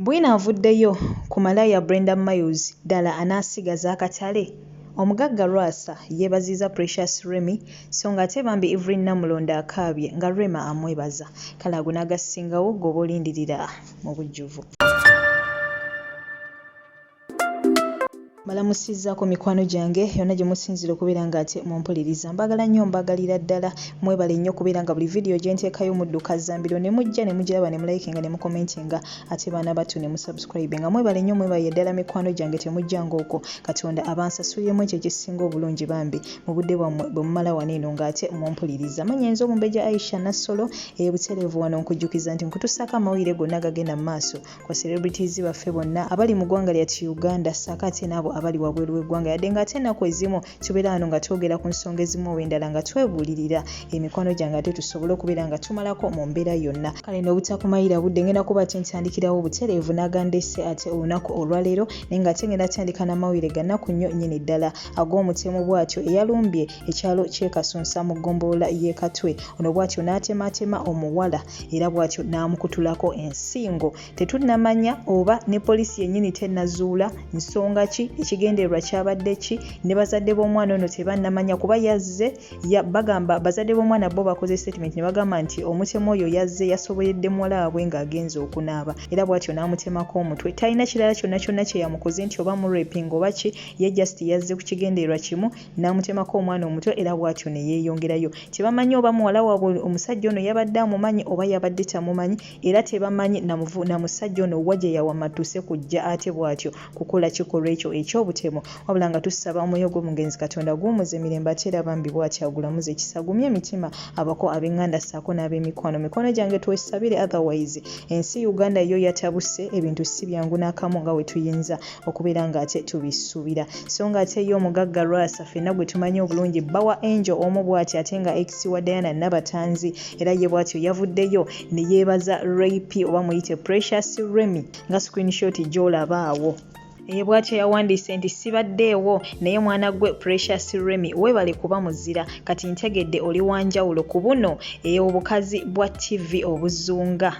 Bwino avuddeyo ku malaaya Brenda Miles, ddala anaasigaza akatale? Omugagga Lwasa yeebazizza Precious Remmy sso ng'ate bambi Evelyn Namulondo akaabye nga Rema amwebaza. Kale ago n'agasingawo ggwe oba olindirira mu bujjuvu. mbalamusizaako mikwano gyange yonna gye musinzira okubeera nga ate mumpuliriza mbagala nnyo mbagalira ddala mwebale nnyo okubeera nga buli vidiyo gye nteekayo mudduka zambiro ne mujja ne mugiraba ne mulayikinga ne mukomentinga ate baana battu ne musubscribe nga mwebale nnyo mwebaye ddala mikwano gyange temujjanga okwo katonda abansasuliremu ekyo ekisinga obulungi bambi mu budde bwammwe bwe mumala wano eno ng'ate mumpuliriza manya enza omumbeja aisha nassolo eyebutereevu wano nkujjukiza nti nkutusaako amawulire gonna agagenda mu maaso kwa celebrities baffe bonna abali mu ggwanga lyati uganda saako ate naabo abali wabweru w'eggwanga yadde nga ate enaku ezimu tubeera wano nga twogera ku nsonga ezimu oba endala nga twebuulirira emikwano gyange ate tusobole okubeera nga tumalako mu mbeera yonna kale n'obutakumayira budde ngenda kuba ate ntandikirawo obutereevu nagandese ate olunaku olwaleero naye nga ate ngenda tandika n'amawulire ganaku nnyo nyini ddala ag'omutemu bwatyo eyalumbye ekyalo ky'e Kasunsa mu ggombolola y'e Katwe. Ono bw'atyo n'atemaatema omuwala era bw'atyo n'amukutulako ensingo. Tetunnamanya oba ne poliisi yennyini tennazuula nsonga ki, ekigendererwa kyabadde ki, ne bazadde b'omwana ono tebannamanya kuba yazze bagamba bazadde b'omwana bo bakoze sitatimenti ne bagamba nti omutemu oyo yazze yasoboyedde muwala waabwe ng'agenze okunaaba era bw'atyo n'amutemako omutwe. Talina kirala kyonna kyonna kye yamukoze nti oba murepinga oba ki, ye just yazze ku kigendererwa kimu n'amutemako omwana omuto era bw'atyo ne yeeyongerayo. Tebamanyi oba muwala waabwe omusajja ono yabadde amumanyi oba yabadde tamumanyi era tebamanyi na musajja ono wa gye yawamattuse kujja ate bw'atyo kukola kikolwa ekyo eky'obutemu wabula nga tusaba omwoyo gw'omugenzi Katonda aguwummuze mirembe ate era bambi bw'atyo agulamuze kisa agumye emitima abako ab'enganda ssaako n'ab'emikwano. Mikwano gyange twesabire otherwise ensi Uganda yo yatabuse ebintu si byangu n'akamu nga we tuyinza okubeera nga ate tubisuubira so nga ate ye omugagga lwasa fenna gwe tumanyi obulungi bba wa angel omu bwati ate nga ex wa diana nabatanzi era ye bwatyo yavuddeyo ne yeebaza rap oba muyite precious remy nga screenshot gy'olaba awo eye bwatyo yawandiise nti sibaddeewo naye mwana gwe precious remy webale kuba muzira kati ntegedde oli wanjawulo ku buno eobukazi bwa ttivi obuzunga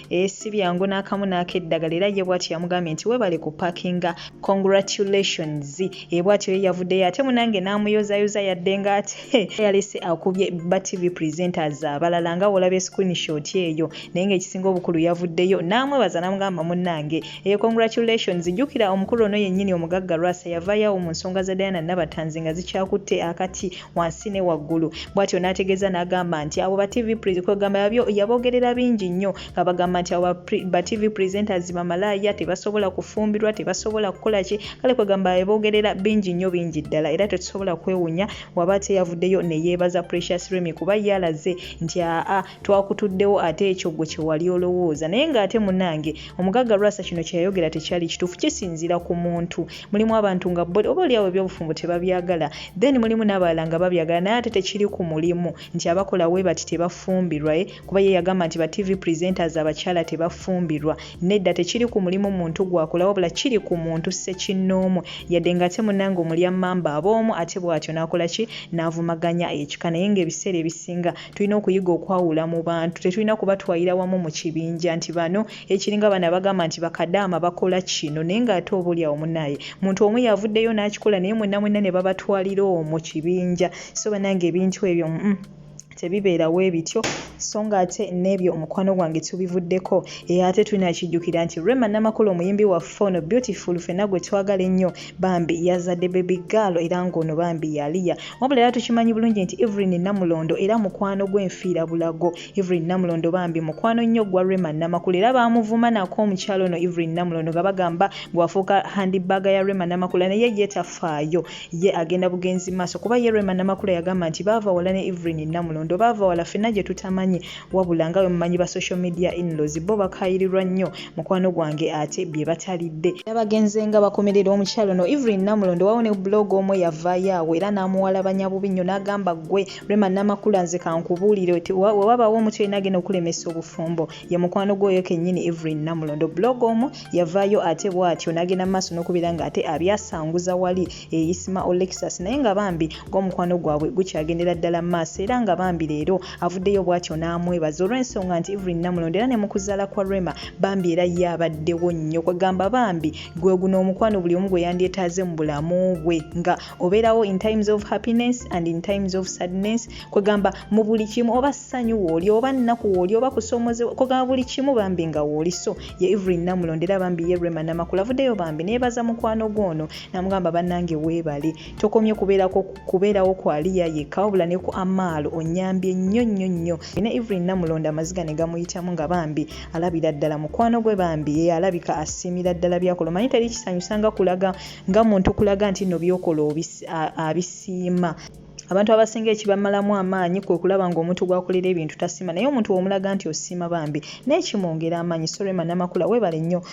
Eh, si byangu n'akamu n'akeddagala era ye bwatyo yamugambye nti webale ku pakinga congratulations e bwatyo ye yavuddeyo ate munange n'amuyozayoza yadde nga ate yalese akubye ba tv presenters abalala nga wolabye screenshot eyo naye ng'ekisinga obukulu yavuddeyo n'amwebaza namugamba munange e eh, congratulations jjukira omukulu ono yennyini omugagga lwasa yavaayo awo mu nsonga za diana nabatanzi nga zikyakutte akati wansi ne waggulu bwatyo n'ategeeza n'agamba nti abo ba tv kwegamba yabyo yabogerera bingi nnyo nga bagamba nti abo ba tv presenters bamalaaya tebasobola kufumbirwa tebasobola kukola ki kale kwegamba yabogerera bingi nnyo bingi ddala era tetusobola kwewunya waba teyavuddeyo ne yeebaza precious remy kuba yalaze nti aa twakutuddewo ate ekyo gwe kyewali olowooza naye nga ate munange omugagga lwasa kino kyeyayogera tekyali kituufu kisinziira ku muntu mulimu abantu nga bo oba oliawo ebyobufumbo tebabyagala then mulimu n'abalala nga babyagala naye ate tekiri ku mulimu nti abakola we bati tebafumbirwa e kuba ye yagamba nti ba tv presenters abakyala tebafumbirwa nedda tekiri ku mulimu muntu gwakola wabula kiri ku muntu sekinnoomu yadde nga ate munange omulya mamba aboomu ate bwatyo nakola ki navumaganya ekika naye nga ebiseera ebisinga tulina okuyiga okwawula mu bantu tetulina kubatwalira wamu mu kibinja nti bano ekiringa bano abagamba nti bakadaama bakola kino naye ng'ate oba olyawo munaye muntu omu yavuddeyo n'akikola naye mwenna mwenna ne babatwalira omwo kibinja so banange ebintu ebyo mm -mm. tebibeerawo ebityo so ng'ate n'ebyo omukwano gwange tubivuddeko era ate tulina kijjukira nti rema namakula omuyimbi waffe ono beautiful fena gwe twagala ennyo bambi yazadde baby girl era ng'ono bambi yaliya wabula era tukimanyi bulungi nti evelyn namulondo era mukwano gw'enfiira bulago evelyn namulondo bambi mukwano nnyo gwa rema namakula era baamuvuma nako omukyalo ono evelyn namulondo nga bagamba gwafuuka handibaaga ya rema namakula naye ye tafaayo ye agenda bugenzi maaso kuba ye rema namakula yagamba nti baava wala ne evelyn namulondo baava wala fenna gye tutamanyi wabula nga bwemumanyi ba social media inlaws bo bakayirirwa nnyo mukwano gwange ate bye batalidde nabagenze nga bakomerera omukyalo no evelyn namulondo wawo ne blog omu yavaayo awo era n'amuwalabanya bubi nnyo n'agamba ggwe rema namakula nze kankubuulire wewabawo omutu yena agenda okulemesa obufumbo ye mukwano gwoyo kennyini evelyn namulondo blog omu yavaayo ate bwatyo n'agenda maaso n'okubeera nga ate abyasanguza wali eyisima olexus naye nga bambi gwomukwano gwabwe gukyagendera ddala mu maaso era nga bambi leero avuddeyo bwatyo n'amwebaza olw'ensonga nti Evelyn Namulondo era ne mu kuzaala kwa Rema bambi era ye abaddewo nnyo kwegamba bambi gwe guno omukwano buli omu gwe yandyetaaze mu bulamu bwe nga obeerawo in times of happiness and in times of sadness kwegamba mu buli kimu oba ssanyu wooli oba nnaku wooli oba kusoomozewa kwegamba buli kimu bambi nga wooli so ye Evelyn Namulondo era bambi ye Rema Namakula avuddeyo bambi neebaza mukwano gwono namugamba banange weebale tokomye kubeerako kubeerawo kwa liya yekka wabula ne ku amaalo onyambye nnyo nnyo nnyo ne evelyn namulonda amaziga ne gamuyitamu nga bambi alabira ddala mukwano gwe bambi ye alabika asiimira ddala byakola omanyi teri kisanyusa nga kulaga nga muntu kulaga nti nno byokola abisiima abantu abasinga ekibamalamu amaanyi kwe kulaba ng'omuntu gwakolera ebintu tasiima naye omuntu womulaga nti osiima bambi naye kimwongera amaanyi sorema namakula webale nnyo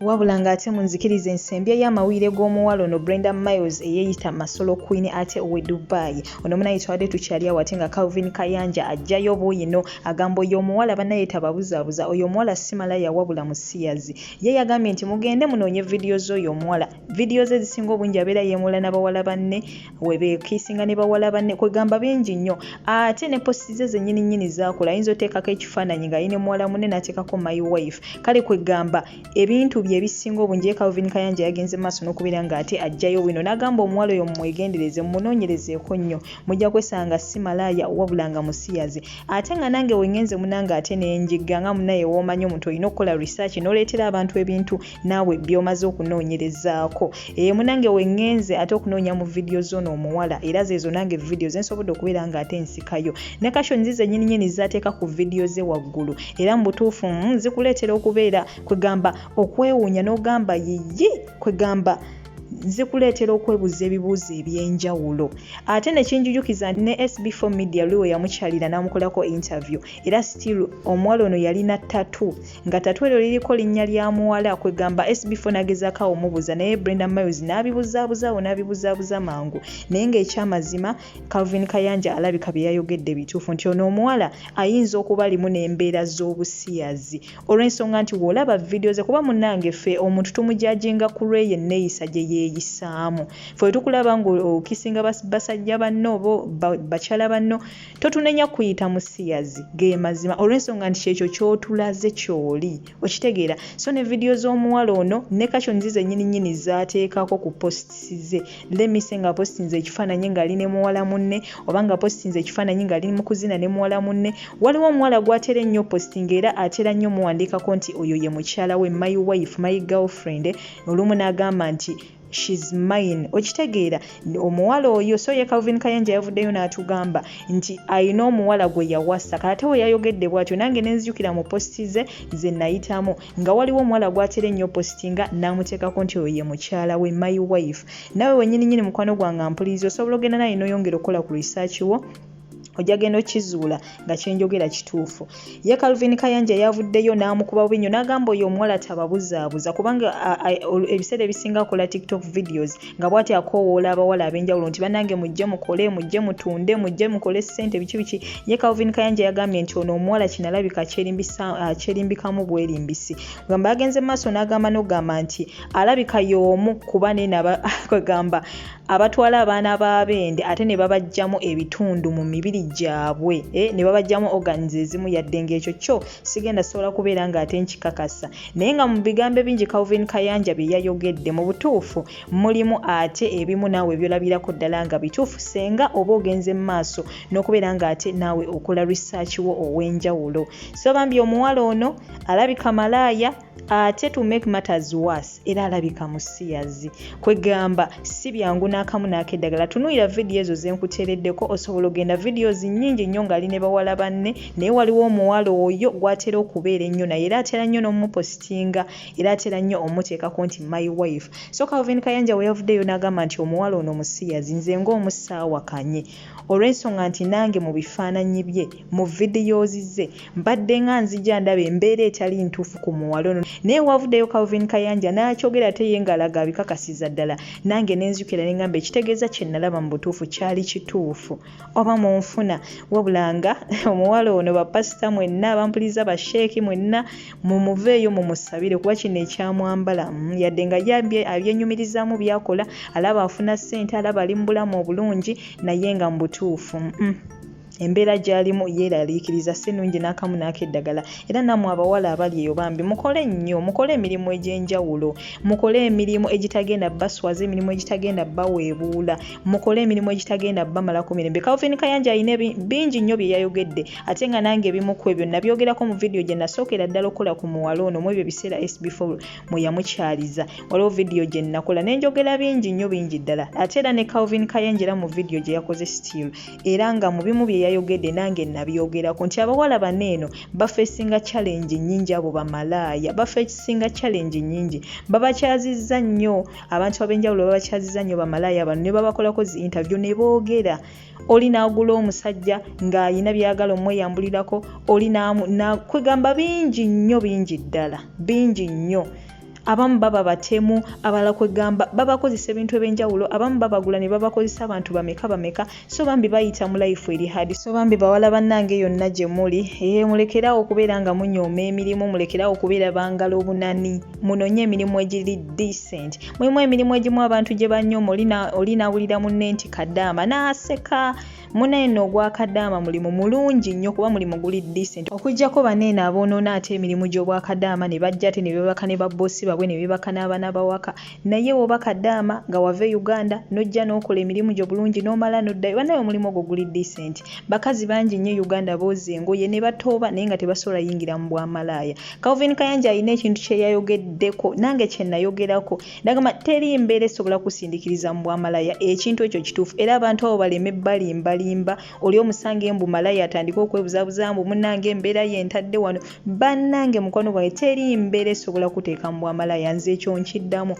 wabula ng'ate mu nzikiriza ensembya y'amawulire g'omuwala ono brenda miles eyeeyita masolo queen ate owe dubai ono munaye twabadde tukyali awo ate nga calvin kayanja ajjayo buyino agamba oyo omuwala banaye tababuzaabuza oyo omuwala simala yawabula musiyazi ye yagambye nti mugende munoonye vidiyo z'oyo omuwala vidiyo ze ezisinga obungi abeera yeemuula n'abawala banne webekisinga ne bawala banne kwegamba bingi nnyo ate ne posti ze zenyini nyini zakola ayinza oteekako ekifaananyi nga yine muwala munne nateekako my wife kale kwegamba ebintu bye ebisinga obungi ye calvin kayanja yagenze maaso n'okubeera nga ate ajjayo bwino n'agamba omuwala oyo mumwegendereze mumunonyerezeeko nnyo mujja kwesanga si malaaya wabula nga musiyazi ate nga nange wengenze munange ate nenjigga nga munaye woomanyi omuntu olina okukola research noleetera abantu ebintu naawe byomaze okunoonyerezaako ee eh, munange wengenze ate okunoonya mu vidiyo zoono omuwala era zeezo nange vidiyo zensobodde okubeera nga ate nsikayo ne kasho nzize nyininyini zateeka ku vidiyo ze waggulu era mu butuufu mm, zikuleetera okubeera kwegamba okwewuunya n'ogamba yiyi kwegamba zikuleetera okwebuuza ebibuuzo ebyenjawulo ate nekinjujukiza ne sb4 media luwe yamukyalira namukolako interview era still omuwala ono yalina tatu nga tatu eryo liriko linnya lya muwala kwegamba SB4 nagezaako awo mubuza naye Brenda Miles n'abibuzaabuzawo n'abibuzaabuza mangu naye ng'ekyamazima Calvin Kayanja alabika bye yayogedde bituufu nti ono omuwala ayinza okuba alimu n'embeera z'obusiyazi olw'ensonga nti w'olaba vidiyo ze kuba munnange ffe omuntu tumujajinga ku lw'eyo enneeyisa gye yeeyisaamu ffe tukulaba ng'okisinga basajja banno oba bakyala banno totunenya kuyita musiyazi ge mazima olw'ensonga nti kyekyo kyotulaze kyoli okitegeera so ne vidiyo z'omuwala ono ne kakyo nzize nyini nyini zaateekako ku positisi ze lemise nga positinze ekifaananyi ng'ali ne muwala munne oba nga positinze ekifaananyi ng'ali mu kuzina ne muwala munne waliwo omuwala gw'atera ennyo positinga era atera nnyo muwandiikako nti oyo ye mukyala we my wife my girlfriend olumu n'agamba nti she's mine okitegeera omuwala oyo so ye calvin kayanja yavuddeyo n'atugamba nti alina omuwala gwe yawasa kalate we yayogedde bwatyo nange nenzijukira mu positi ze ze nayitamu nga waliwo omuwala gwatera ennyo positi nga n'amuteekako nti oyo ye mukyala we my wife nawe wenyini nyini mukwano gwange mpuliriza osobola ogenda naye noyongera okukola ku research wo ojja genda okizuula nga kyenjogera kituufu ye calvin kayanja yavuddeyo n'amukuba bubi nyo n'agamba oyo omuwala tababuzaabuza kubanga ebiseera ebisinga akola tiktok videos nga bwati akoowoola abawala ab'enjawulo nti banange mujje mukole mujje mutunde mujje mukole ssente biki biki ye calvin kayanja yagambye nti ono omuwala kinalabika akyerimbikamu ah, bwerimbisi gamba yagenze mu maaso n'agamba n'ogamba nti alabika y'omu kuba neenaba kwegamba abatwala abaana b'abeende ate ne babajjamu ebitundu mu mibiri gyabwe eh, ne babajjamu organs ezimu yadde ng'ekyo kyo sigenda sobola kubeera ng'ate nkikakasa naye nga mu bigambo ebingi calvin kayanja bye yayogedde mu butuufu mulimu ate ebimu naawe byolabirako ddala nga bituufu senga oba ogenze mu maaso n'okubeera ng'ate naawe okola research wo ow'enjawulo so bambi omuwala ono alabika malaaya ate to make matters worse era alabika musiyazi kwegamba si byangu n'akamu n'akeddagala tunuulira vidiyo ezo ze nkuteereddeko osobola ogenda videos nnyingi nnyo ng'ali ne bawala banne naye waliwo omuwala oyo gw'atera okubeera ennyo naye era atera nnyo n'omupositinga era atera nnyo omuteekako nti my wife so calvin kayanja we yavuddeyo n'agamba nti omuwala ono musiyazi nze ng'omusaawakanye olw'ensonga nti nange mu bifaananyi bye mu vidiyozi ze mbadde nga nzija ndaba embeera etali ntuufu ku muwala ono naye wavuddeyo calvin kayanja n'akyogera ate ye ng'alaga abikakasiza ddala nange ne nzukira ne ngamba ekitegeeza kye nalaba mu butuufu kyali kituufu oba mu nfuna wabula nga omuwala ono bapasita mwenna abampuliza basheeki mwenna mumuveeyo mumusabire kuba kino ekyamwambala mm, yadde nga ye abyenyumirizaamu byakola alaba afuna ssente alaba ali mu bulamu obulungi naye nga mu butuufu mm. embeera gy'alimu yeeraliikiriza si nnungi n'akamu n'akeddagala era nammwe abawala abali eyo bambi mukole nnyo mukole emirimu egy'enjawulo mukole emirimu egitagenda baswaza emirimu egitagenda baweebuula mukole emirimu egitagenda bamalako mirembe calvin kayanja alina bingi nnyo bye yayogedde ate nga nange ebimu ku ebyo nabyogerako mu vidiyo gye nasookera ddala okukola ku muwala ono mu ebyo biseera sbf mwe yamukyaliza waliwo vidiyo gye nakola nenjogera bingi nnyo bingi ddala ate era ne calvin kayanja era mu vidiyo gye yakoze still era nga mu bimu bye yayogedde nange nabyogerako nti abawala bano eno bafeesinga challenge nnyingi abo bamalaaya bafeesinga challenge nnyingi babakyazizza nnyo abantu ab'enjawulo babakyazizza nnyo bamalaaya bano ne babakolako zi interview ne boogera oli n'agula omusajja ng'alina byagala omweyambulirako oli kwegamba bingi nnyo bingi ddala bingi nnyo abamu baba batemu abalala kwegamba babakozesa ebintu ebyenjawulo abamu babagula ne babakozesa abantu bameka bameka so bambi bayita mu life eri hadi so bambi bawala bannange yonna gye muli ee eh, mulekerawo okubeera nga munyooma emirimu mulekerawo okubeera bangala obunani munonye emirimu egiri decent mulimu emirimu egimu abantu gye banyooma oli nawulira munne nti kadaama naaseka Munaye no ogwa kadaama mulimu mulungi nnyo kuba mulimu guli decent okujjako baneeno aboonoona ate emirimu gy'obwa kadaama ne bajja ate ne beebaka ne babboosi babwe ne beebaka n'abaana bawaka naye woba kadaama nga wava e Uganda n'ojja n'okola emirimu gyo bulungi n'omala n'oddayo banaye omulimu ogwo guli decent bakazi bangi nnyo e Uganda booza engoye ne batooba naye nga tebasobola yingira mu bwamalaaya Calvin Kayanja alina ekintu kye yayogeddeko nange kye nayogerako Nagamba teri mbeera esobola kusindikiriza mu bwamalaya ekintu ekyo kituufu era abantu abo baleme balimbalimba oli omusange mbu malaya atandike okwebuzabuza mbu munange embeera ye ntadde wano bannange mukwano gwange teri mbeera esobola kuteeka mu bwamalaya nze ekyo nkiddamu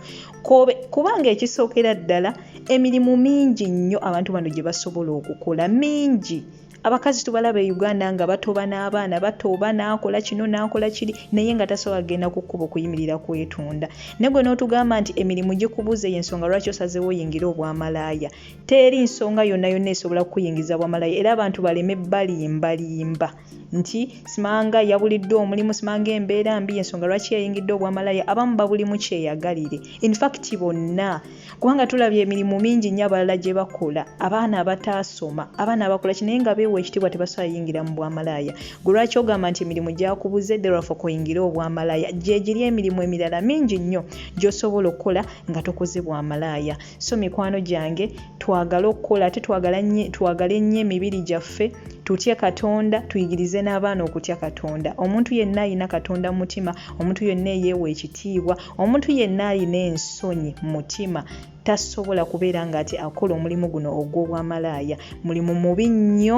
kubanga ekisookera ddala emirimu mingi nnyo abantu bano gye basobola okukola mingi abakazi tubalaba e uganda nga batoba n'abaana batoba n'akola kino n'akola kiri naye nga tasobola kugenda ku kkubo kuyimirira kwetunda naye gwe n'otugamba nti emirimu gikubuze y'ensonga lwaki osazeewo oyingire obwamalaaya teri nsonga yonna yonna esobola kukuyingiza bwamalaaya era abantu baleme balimbalimba nti simanga yabuliddwa omulimu simanga embeera mbi y'ensonga lwaki yayingidde obwamalaaya abamu babulimu kyeyagalire infact bonna kubanga tulabye emirimu mingi nnyo abalala gye bakola abaana abataasoma abaana abakola ki naye nga beewa ekitiibwa tebasobola yingira mu bwamalaaya gwe lwaki ogamba nti emirimu gyakubuze derafa kuyingira obwamalaaya gyegiri emirimu emirala mingi nnyo gy'osobola okukola nga tokoze bwamalaaya so mikwano gyange twagale okukola ate twagale nnyo emibiri gyaffe tutye katonda tuyigirize n'abaana okutya katonda omuntu yenna alina katonda mu mutima omuntu yenna eyeewa ekitiibwa Omuntu yenna alina ensonyi mu mutima tasobola kubeera nga ati akola omulimu guno ogw'obwamalaaya mulimu mubi nnyo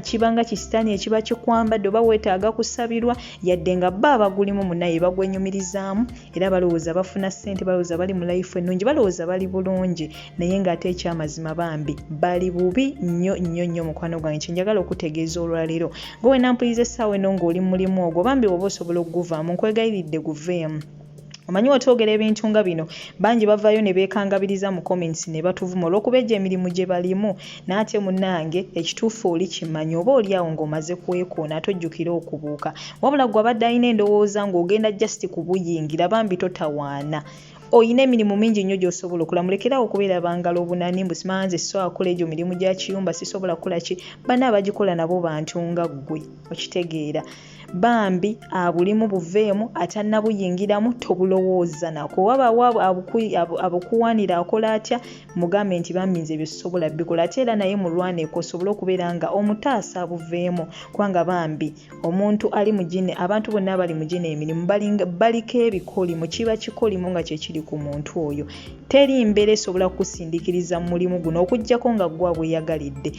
kibanga kisitaani ekiba kikwambadde oba weetaaga kusabirwa yadde nga bba abagulimu munaye bagwenyumirizaamu era balowooza bafuna ssente balowooza bali mu layifu ennungi balowooza bali bulungi naye nga ate ekyamazima bambi bali bubi nnyo nnyo nnyo mukwano gwange kyenjagala okutegeeza olwaleero gwe wenampuliza essaawa eno ng'oli mulimu ogwo bambi woba osobola okuguvaamu nkwegayiridde guveemu omanyi wetwogera ebintu nga bino bangi bavayo ne beekangabiriza mu comments ne batuvuma olw'okuba egyo emirimu gye balimu naate munnange ekituufu oli kimanyi oba oli awo ng'omaze kwekoona ate ojjukire okubuuka wabula gwe abadde alina endowooza ng'ogenda just kubuyingira bambi totawaana oyina emirimu mingi nnyo gy'osobola okola mulekerawo okubeera bangala obunani mbu simanya nze sisobola kukola egyo mirimu gya kiyumba sisobola kukola ki bana abagikola nabo bantu nga ggwe okitegeera bambi abulimu buveemu atannabuyingiramu tobulowooza nako wabaawo abukuwanira akola atya mugambe nti bambi nze ebyo sisobola bikola ate era naye mulwaneko osobole okubeera nga omutaasa abuveemu kubanga bambi omuntu ali mu gine abantu bonna abali mu gine emirimu baliko ebikolimo kiba kikolimo nga kyekiri ku muntu oyo teri mbeera esobola kukusindikiriza mu mulimu guno okuggyako nga gwa bweyagalidde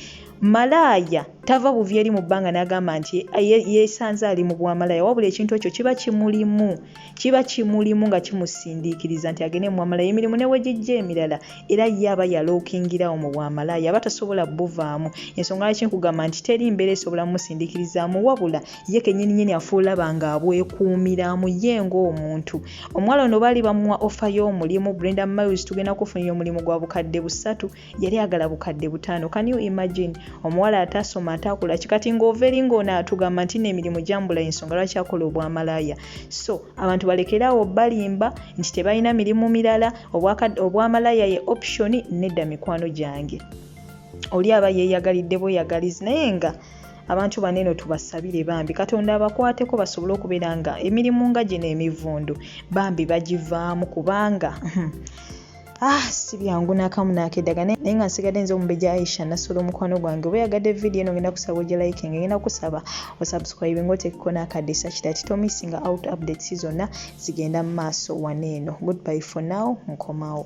malaaya tava buvi eri mu bbanga n'agamba nti yeesanze ali mu bwamalaaya wabula ekintu ekyo kiba kimulimu kiba kimulimu nga kimusindiikiriza nti agende mu bwamalaaya emirimu ne wegijja emirala era ye aba yalookingirawo mu bwamalaaya aba tasobola buvaamu ensonga lwaki nkugamba nti teri mbeera esobola mumusindiikirizaamu wabula ye kenyini nyini afuulaba nga abwekuumiramu ye ng'omuntu omuwala ono baali bamuwa ofa y'omulimu brenda miles tugenda kufunira omulimu gwa bukadde busatu yali agala bukadde butaano can you imagine omuwala atasoma atakula kikati ng'ova eri ng'ono atugamba nti n'emirimu gyambula ensonga lwaki akola obwamalaaya so abantu balekeraawo balimba nti tebalina mirimu mirala obwamalaaya ye option nedda mikwano gyange oli aba yeeyagalidde bweyagalizi naye nga abantu bano eno tubasabire bambi katonda abakwateko basobole okubeera nga emirimu nga gino emivundu bambi bagivaamu kubanga hmm, ah si byangu nakamu nakedaga naye nga nsigadde nze omubeja aisha nasola omukwano gwange oba yagadde vidiyo eno ngenda kusaba oje liking ngenda kusaba osubscribe nga otekeko nakadisa kita titomissinga out updates zonna zigenda mu maaso wano eno goodbye for now nkomawo